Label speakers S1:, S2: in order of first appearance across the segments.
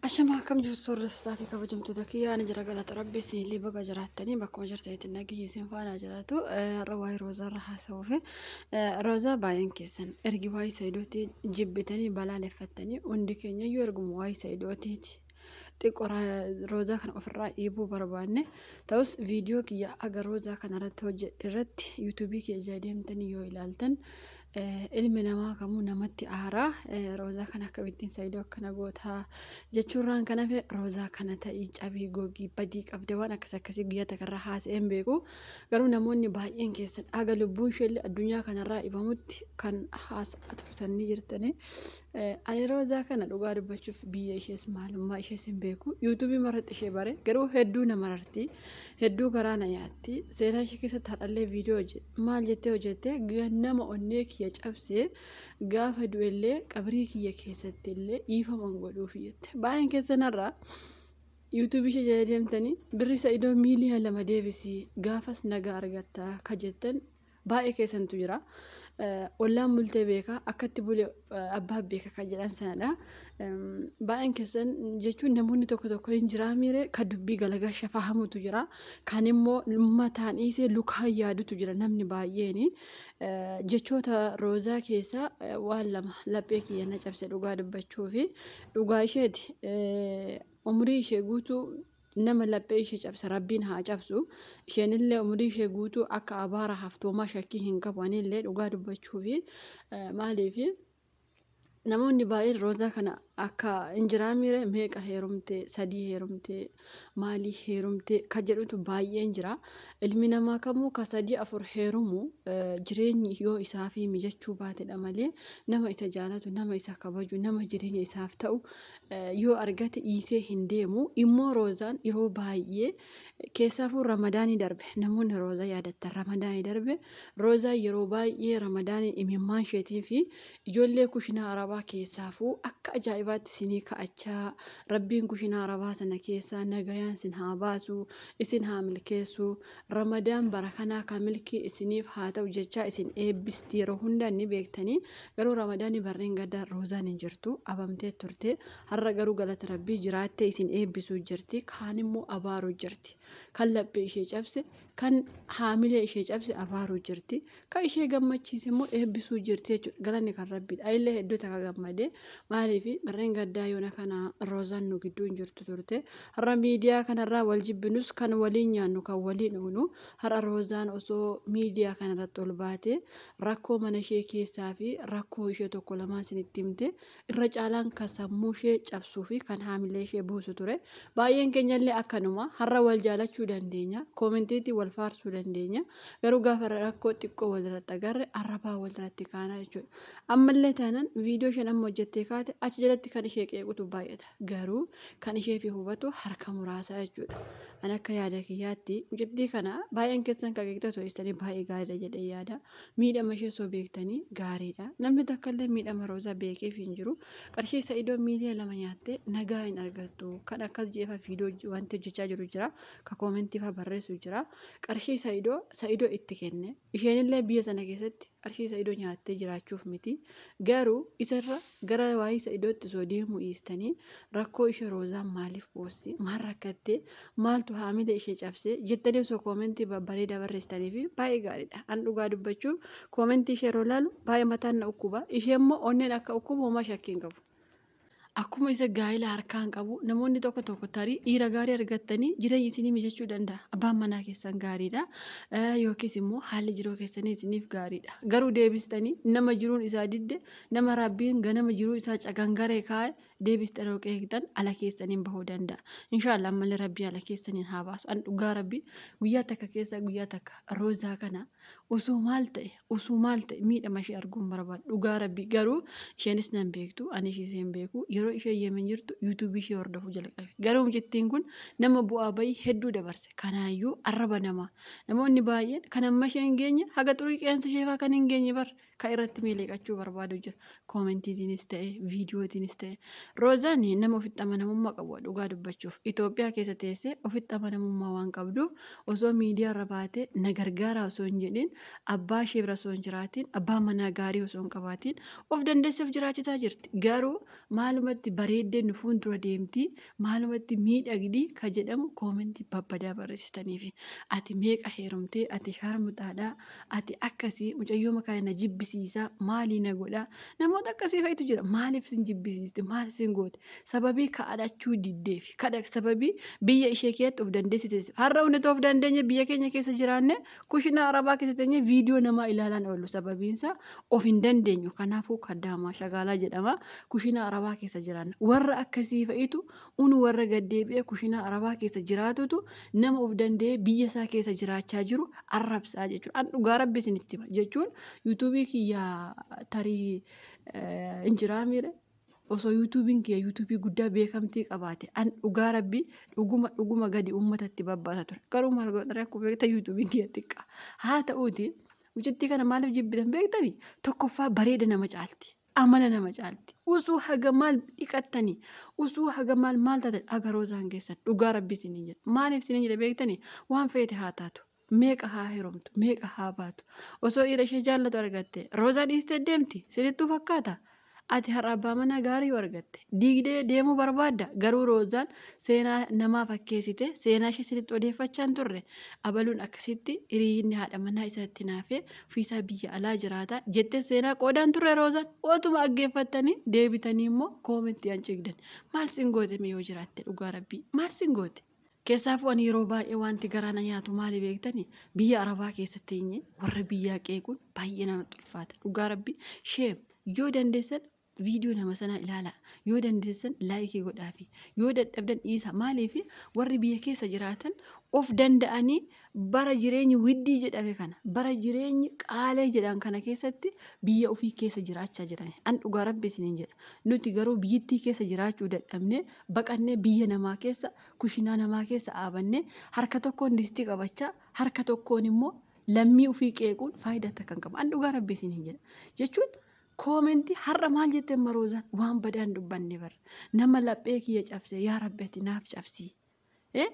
S1: Ashamaa akkam jirtu hordoftotaa fi kabajamtoota kiyyaa ani jira galata rabbi isinillee baga jiraattanii bakkuma jirtanitti nageenyi isin faana jiraatu har'a waa'ee roozaa irra haasa'uu fi roozaa baay'een keessan ergi waa'ee sa'idooti jibbitanii balaaleffattanii hundi keenya iyyuu erguma waa'ee sa'idootiiti xiqqoo roozaa kana ofirraa dhiibuu barbaanne ta'us viidiyoo kiyya aga roozaa kana irratti hojjedhe irratti yuutuubii kiyya deemtanii yoo ilaaltan Ilmi namaa kamuu namatti aara. Roozaa kana akkamittiin Saidoo akkana goota jechuurraan kan hafe Roozaa kana ta'ii cabii gogii badii qabda waan akkas akkasii guyyaa takarraa haasa'een beeku. Garuu namoonni baay'een keessan haga lubbuun isheellee addunyaa kanarraa ibamutti kan haasa'aa turtan ni jirtani. Ani Roozaa kana dhugaa dubbachuuf biyya ishees maalummaa ishees hin beeku. Yuutuubii marratti ishee bare garuu hedduu na mararti. Hedduu garaa na nyaatti. Seenaa ishee keessatti har'allee viidiyoo hojjete. Maal jettee hojjette? Nama onnee kiyya cabsee gaafa du'ellee qabrii kiyya keessatti illee dhiifaman godhuuf jette. Baay'een keessanarraa yuutuubii ishee jala deemtanii birri sa'idoo miiliyoona lama deebisii gaafas nagaa argatta ka jettan Baay'ee keessantu jira. Ollaan bultee beeka akkatti bule abbaa beeka kan jedhan sanadha. Baay'een keessan jechuun namoonni tokko tokko hin jiraa miire kan dubbii galagasha fahamutu jira. Kan immoo mataan dhiisee lukaan yaadutu jira namni baay'een. Jechoota roozaa keessaa waan lama laphee kiyya na cabse dhugaa dubbachuu fi dhugaa isheeti umurii ishee guutuu nama laphee ishee cabse rabbiin haa cabsu isheenillee umurii ishee guutuu akka abaara haftoomaa shakkii hin qabu anillee dhugaa dubbachuufi maaliifi namoonni baay'een roozaa kana akka hin jiraamiire meeqa heerumte sadii heerumte maalii heerumte ka jedhutu baay'een jira ilmi namaa kamuu ka sadii afur heerumu jireenyi yoo isaafii mijachuu baatedha malee nama isa jaalatu nama isa kabaju nama jireenya isaaf ta'u yoo argate dhiisee hin deemu immoo roozaan yeroo baay'ee keessaafuu ramadaanii darbe namoonni roozaa yaadattan ramadaanii darbe roozaa yeroo baay'ee ramadaanii imimmaan isheetii fi ijoollee kushinaa arabaa keessaafuu akka ajaa'ibaatti sinii ka'achaa rabbiin kushinaa arabaa sana keessaa nagayaan sin haa baasu isin haa milkeessu Ramadaan bara kanaa ka milkii isiniif haa ta'u jechaa isin eebbisti yeroo hunda ni beektanii garuu ramadaani barreen gaddaa roozaan hin jirtu abamtee turte har'a garuu galata rabbii jiraattee isin eebbisuu jirti kaan immoo abaaruu jirti kan laphee ishee cabse kan haamilee ishee cabse abaaruu jirti Ka ishee gammachiise immoo eebbisuu jirti jechuudha. Galanni kan rabbiidha. Ayillee hedduu takka gammade. Maaliif barreen gaddaa yoona kana roozaan nu gidduu hin jirtu turte. Har'a miidiyaa kanarraa wal jibbinus kan waliin nyaannu kan waliin dhugnu har'a roozaan osoo miidiyaa kanarratti ol baate rakkoo mana ishee keessaa fi rakkoo ishee tokko lamaa isinitti himte Irra caalaan kan sammuushee cabsuufi kan haamileeshee buusu ture. Baay'een keenyallee akkanuma. Har'a wal jaalachuu dandeenya. Koomentiitiin wal faarsuu dandeenya. Garuu gaafa rakkoo xiqqoo walirratti agarre arrabaan walirratti kaana jechuudha. Ammallee taanaan viidiyoo isheen amma hojjettee kaate achi jalatti kan ishee qeequtu baay'ata. Garuu kan isheefi hubatu harka muraasa jechuudha. Ani akka yaada kiyyaatti mucattii kana baay'een keessan kan qeeqxota teessanii baay'ee gaariidha jedhee yaada. Miidhama ishee osoo beektanii gaariidha. Namni takka illee miidhama Roozaa beekeef hin jiru. Qarshii Sa'idoo miiliya lama nyaattee nagaa hin argattu. Kan akkas jeefa fiidoo wanti hojjechaa jiru jira. Ka koomentii faa barreessu jira. Qarshii Sa'idoo Sa'idoo itti kenne. Isheen illee biyya sana keessatti qarshii Sa'idoo nyaattee jiraachuuf miti. Garuu isarra Gara waayii sa'idootti osoo deemuu dhiistanii rakkoo ishee roozaan maaliif boosse maal rakkatte maaltu haamila ishee cabse jettanii osoo koomentii babbareedaa barreessitanii fi baay'ee gaariidha an dhugaa dubbachuuf koomentii ishee yeroo laalu baay'ee mataan na ukkuba ishee immoo onneen akka ukkubu homaa shakkii hin qabu. Akkuma isa gaa'ila harkaan qabu namoonni tokko tokko tarii dhiira gaarii argattanii jireenya isinii mijachuu danda'a. Abbaan manaa keessan gaariidha yookiis immoo haalli jiruu keessanii isiniif gaariidha. Garuu deebistanii nama jiruun isaa didde Nama Rabbiin ganama jiruu isaa cagangaree kaa'e deebiste yeroo qeeqxan ala keessaniin bahuu danda'a. Inshaallah ammallee Rabbiin ala keessaniin haa baasu. An dhugaa Rabbii guyyaa takka keessa guyyaa takka roozaa kana osoo maal ta'e osoo maal ta'e miidhama ishee arguun barbaadu. Dhugaa Rabbii garuu isheenis nan beektu ani ishee hin beeku yeroo ishee yemen jirtu yuutuubii ishee hordofuu jalqabe. Garuu mucattiin kun nama bu'aa bayii hedduu dabarse. Kanaayyuu arraba namaa namoonni baay'een kan amma ishee hin geenye haga xurii qeensa ishee fa'aa kan hin geenye bara. Ka irratti miliqachuu barbaadu jira. Koomentiitiinis ta'e, viidiyootiinis ta'e. Roozaan nama ofitti amanamummaa qabudha dhugaa dubbachuuf. Itoophiyaa keessa teessee ofitti amanamummaa waan qabduuf osoo miidiyaarra baatee na gargaaraa osoo hin jedhiin, abbaa ishee bira osoo hin jiraatiin, abbaa manaa gaarii osoo hin qabaatiin of dandeessee of jiraachisaa jirti. Garuu maalumatti bareeddee nu fuuldura deemtii Maalumatti miidhagdi ka jedhamu koomentii babbadaa barreessitaniifi. Ati meeqa heerumtee, ati shaarmuxaadha, ati akkasi, mucayyoo makaa na jibbisiisa, maalii na godha. Namoota akkasii fa'itu jira. Maaliif sin jibbisiiste? Maal sin goote? Sababii kadhachuu diddeefi. Kadha sababii biyya ishee keessatti of dandeessiteef. Har'a hundatu of dandeenye biyya keenya keessa jiraanne Kushinaa arabaa keessa teenyee viidiyoo namaa ilaalaan oollu sababiinsaa of hin dandeenyu. Kanaafuu kaddaamaa shagaalaa jedhama. Kushinaa arabaa keessa jiraanna. Warra akkasii fa'itu unu warra gaddeebi'ee kushinaa arabaa keessa jiraatutu nama of danda'ee biyya isaa keessa jiraachaa jiru arrabsaa jechuudha. An dhugaa rabbi isinitti hima jechuun yuutuubii kiyyaa tarii hin jiraamiire. Osoo yuutuubiin kiyya yuutuubii guddaa beekamtii qabaate an dhugaa rabbi dhuguma dhuguma gadi uummata itti babbaasa ture garuu maal godhare akkuma beektan yuutuubiin kiyya xiqqa haa ta'uuti mucittii kana maaliif jibbitan beektani tokkoffaa bareeda nama caalti amala nama caalti usuu haga maal dhiqattani usuu haga maal maal taatan agaroo isaan keessan dhugaa rabbi isiniin jedha maaliif isiniin jedha beektani waan feete haa taatu meeqa haa herumtu meeqa haa baatu osoo dhiira ishee jaallatu argatte roozaa dhiistee deemti sitittuu fakkaata ati har'a abbaa manaa gaarii yoo argatte diigdee deemuu barbaadda garuu roozaan seenaa namaa fakkeessite seenaa ishee sititti odeeffachaa hin turre abaluun akkasitti hiriyyinni haadha manaa isaatti naafee ofiisaa biyya alaa jiraata jettee seenaa qoodaan turre roozaan otuma aggeeffattanii deebitanii immoo koomentii an ciigdan maal sin goote mee yoo jiraatte dhugaa rabbii maal sin goote Keessaafuu ani yeroo baay'ee wanti garaa na nyaatu maali beektani biyya arabaa keessa teenye warra biyyaa qeequun baay'ee namatti ulfaata dhugaa rabbi sheem yoo dandeessan viidiyoo nama sanaa ilaalaa yoo dandeessan laayikii godhaafi yoo dadhabdan dhiisaa maaliif warri biyya keessa jiraatan of danda'anii Bara jireenyi widdii jedhame kana, bara jireenyi qaalee jedhan kana keessatti biyya ofii keessa jiraachaa jiran. An dhugaa rabbi isiniin jedha. Nuti garuu biyyittii keessa jiraachuu dadhabnee baqannee biyya namaa keessa kushinaa namaa keessa aabannee harka tokkoon distii qabachaa harka tokkoon immoo lammii ofii qeequun faayidaa takka hin qabu. An dhugaa rabbi isiniin jedha. Jechuun koomentii har'a maal jette maroozaan waan badaan dubbanne bar nama laphee kiyya cabse yaa rabbi ati naaf cabsii. Eh?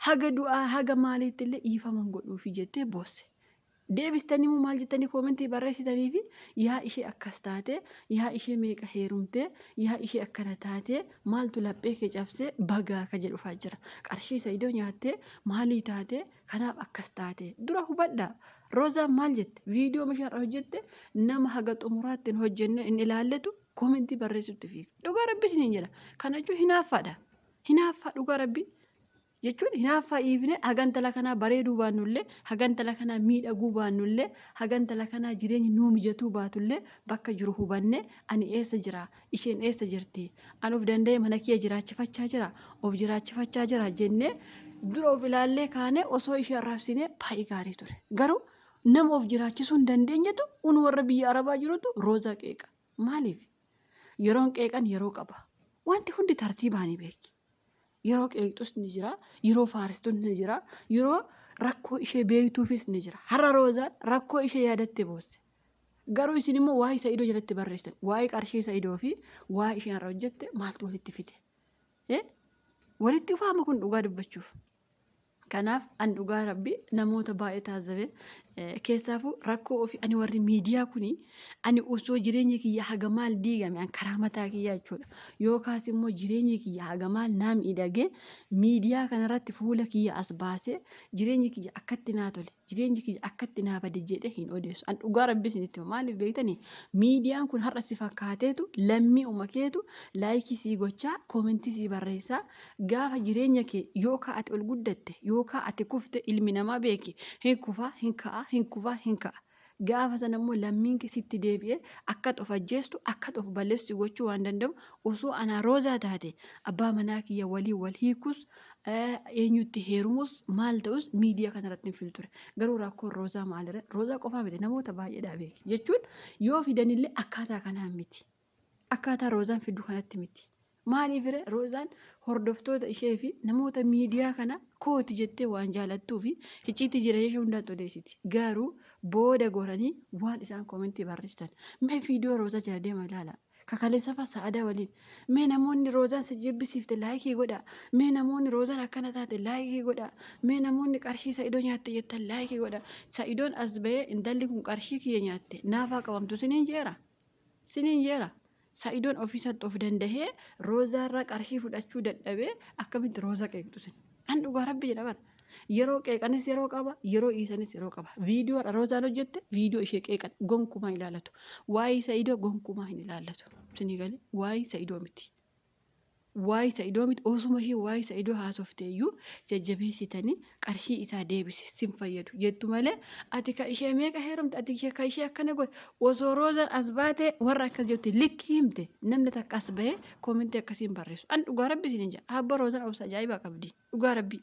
S1: Haga du'aa haga maaliittillee dhiifama hin godhuufi jettee boosse. Deebistaniimoo maal jettanii koomentii barreessitaniifi yaa ishee akkas taatee, yaa ishee meeqa heerumtee, yaa ishee akkana taatee, maaltu laphee kee cabsee bagaa ka jedhu faa jira. Qarshii Sa'idoo nyaattee maalii taatee kanaaf akkas taatee. Dura hubadhaa. Roozaan maal jette? Viidiyoo mishaa irra hojjette nama haga xumuraatti hin hojjenne hin ilaalletu koomentii barreessutti fiiga. Dhugaa Rabbi isiniin jedha. Kana jechuun hinaaffaadha. Hinaaffaa dhugaa rabbii jechuun hinaaffaa dhiifnee haga intala kanaa bareeduu baannullee haga intala kanaa miidhaguu baannullee haga intala kanaa jireenyi nuu mijatuu baatullee bakka jiru hubannee ani eessa jira isheen eessa jirti an of danda'ee mana kiyya jiraachifachaa jira of jiraachifachaa jira jennee dura of ilaallee kaanee osoo ishee arrabsinee baay'ee gaarii ture garuu nama of jiraachisuu hin dandeenyetu un warra biyya arabaa jirutu roozaa qeeqa. Maaliif? Yeroon qeeqan yeroo qaba. Wanti hundi tartiibaani beeki. Yeroo qeeqxus ni jira, yeroo faarstus ni jira, yeroo rakkoo ishee beektuufis ni jira. Har'a Roozaan rakkoo ishee yaadatte boosse. Garuu isin immoo waa'ee Sa'idoo jalatti barreessitan. Waa'ee qarshii Sa'idoo fi waa'ee isheen har'a hojjette maaltu walitti fide? Eh? Walitti ufaama kun dhugaa dubbachuuf. Kanaaf an dhugaa rabbi namoota baay'ee taazzabe keessaafuu rakkoo ofii ani warri miidiyaa kuni ani osoo jireenya kiyya haga maal diigame an karaa mataa kiyyaa jechuudha yookaas immoo jireenya kiyya haga maal naa miidhagee miidiyaa kanarratti fuula kiyya as baasee jireenya kiyya akkatti naa tole Jireenyi kiyya akkatti naa bade jedhee hin odeessu. An dhugaa rabbii isinitti hima. Maaliif beektani? Miidiyaan kun har'a si fakkaateetu lammii uma keetu laayikii sii gochaa koomentii sii barreessaa gaafa jireenya kee yookaa ati ol guddatte yookaa ati kufte ilmi namaa beeki hin kufaa hin ka'aa hin kufaa hin ka'a. Gaafa sana immoo lammiin kee sitti deebi'ee akka ati of ajjeestu, akka ati of balleessu si gochuu waan danda'u osoo anaa Roozaa taate abbaa manaa kiyya waliin wal hiikus, eenyutti heerumus, maal ta'us miidiyaa kana irratti hin fidu ture. Garuu rakkoon Roozaa maalirra? Roozaa qofaa miti namoota baay'eedhaa beeki. Jechuun yoo fidanillee akkaataa kanaan miti. Akkaataa Roozaan fiddu kanatti miti. Maaliifire Roozaan hordoftoota ishee fi namoota miidiyaa kana kooti jettee waan jaalattuu fi hicciitii jireenya ishee hundaatti odeessiti. Garuu booda goranii waan isaan koomentii barreessitan. Mee viidiyoo Roozaa jala deema ilaala. Kakaleessafa sa'adaa waliin. Mee namoonni Roozaan si jibbisiifte laayikii godha. Mee namoonni Roozaan akkana taate laayikii godha. Mee namoonni qarshii sa'idoo nyaatte jettan laayikii godha. Sa'idoon as ba'ee intalli kun qarshii kiyya nyaatte naafaa qabamtu siniin jeera. Sinin jera saidon ofisatti of dandahee roza irra qarshii fudhachuu dadhabee akkamitti roza qeeqxu sin an dhugaa rabbi jedha bar yeroo qeeqanis yeroo qaba yeroo dhiisanis yeroo qaba viidiyoo dha rozaan hojjette viidiyoo ishee qeeqan gonkumaa ilaalatu waa'ee saidoo gonkumaa hin ilaallatu sinii galee waa'ee saidoo miti Waa'ee Sa'idoo miti osuma ishee waa'ee Sa'idoo haasofte iyyuu jajjabeessitanii qarshii isaa deebisi sin fayyadu jettu malee ati ka ishee meeqa heerumte ati ishee ka ishee akkana godhe osoo roozan as baate warra akkas jetti likkii himte namni takka as bahee koomentii akkasiin barreessu an dhugaa rabbi isin hin jedha abba roozan obsa ajaa'ibaa qabdi dhugaa rabbii.